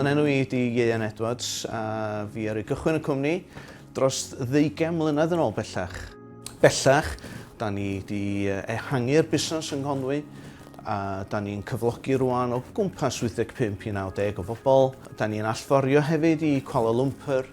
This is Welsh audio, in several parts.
Fy enw i ydi Ieuan Edwards a fi ar ei gychwyn y cwmni dros ddeugain mlynedd yn ôl bellach. Bellach, da ni wedi ehangu'r busnes yng Nghonwy a da ni'n cyflogi rwan o gwmpas 85 i 90 o bobl. Da ni'n allforio hefyd i Kuala Lumpur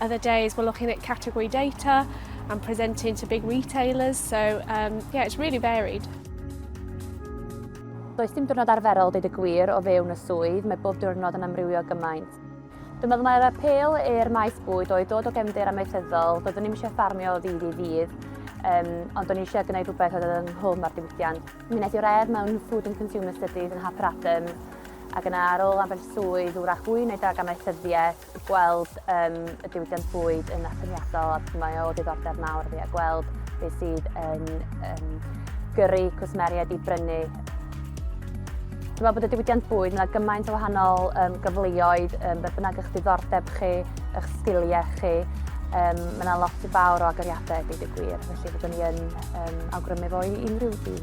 Other days we're looking at category data and presenting to big retailers, so um, yeah, it's really varied. Does dim diwrnod arferol dweud y gwir o fewn y swydd, mae bob diwrnod yn amrywio gymaint. Dwi'n meddwl mae'r apel i'r maes bwyd oedd dod o gefndir amaethyddol, doeddwn ni'n eisiau ffarmio o ddydd i ddydd, um, ond o'n eisiau gwneud rhywbeth oedd yn hwm ar diwydiant. Mi wnaeth i'r ef mewn Food and Consumer Studies yn Hap Radham, ac yna ar ôl ambell swydd wrach fwy neu dag amaethyddiaeth, gweld um, y diwydiant bwyd yn atyniadol a mae o ddiddordeb mawr fi a gweld beth sydd yn um, gyrru cwsmeriaid i brynu. Dwi'n meddwl bod y diwydiant bwyd, mae gymaint o wahanol um, gyfleoedd, um, beth bynnag eich diddordeb chi, eich sgiliau chi, um, mae yna lot o fawr o agoriadau, dweud y gwir, felly byddwn ni yn um, awgrymu fo i unrhyw dyn.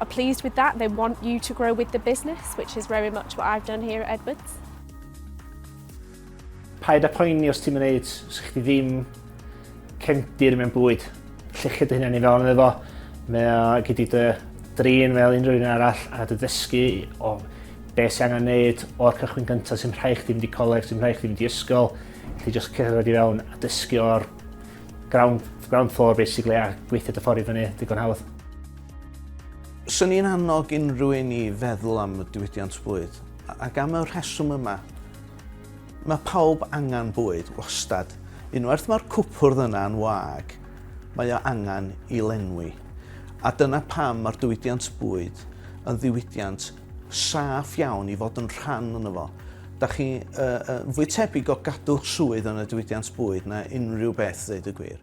are pleased with that, they want you to grow with the business, which is very much what I've done here at Edwards. Paid a poeni os ti'n mynd sy'ch chi ddim cefndir mewn bwyd. Llechyd dy hynny'n i fewn efo. Mae o gyda dy drin fel unrhyw un arall a dy ddysgu o beth sy'n angen neud o'r cychwyn gyntaf sy'n rhaid chdi mynd i coleg, sy'n rhaid chdi mynd i ysgol. Felly jyst cerdded i fewn a dysgu o'r Ground, ground floor basically a gweithio dy ffordd i fyny digon hawdd. Swn i'n annog unrhyw un i feddwl am y diwydiant bwyd ac am y rheswm yma. Mae pawb angen bwyd, wastad. Unwaith mae'r cwpwrdd yna yn wag, mae o angen i lenwi. A dyna pam mae'r diwydiant bwyd yn ddiwydiant saff iawn i fod yn rhan o'n fo. Da chi uh, uh, fwy tebyg o gadw'ch swydd yn y diwydiant bwyd na unrhyw beth, ddeud y gwir.